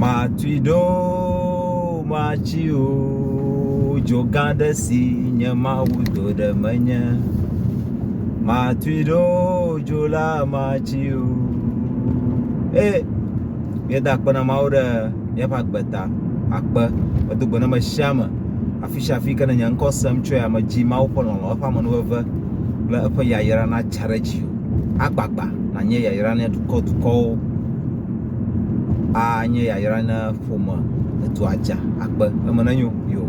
Matui ɖo matsi o, dzo gã aɖe si nye Mawu do ɖe menye. Matui ɖo dzo la matsi o. E, míeda akpe na Mawu ɖe míaƒe agbe ta. Akpe. Medo gbe na ame sia ame. Afi sia afi ke ne nye ŋkɔ sem tsoe ame dzi Mawu ƒe lɔlɔ̃, eƒe amenuveve kple eƒe yayra natsa ɖe dziwò. Agbagba nànye yayra na dukɔ dukɔwo. anye yayra na ƒome, edua dza, akpe. Eme nenyo yoo.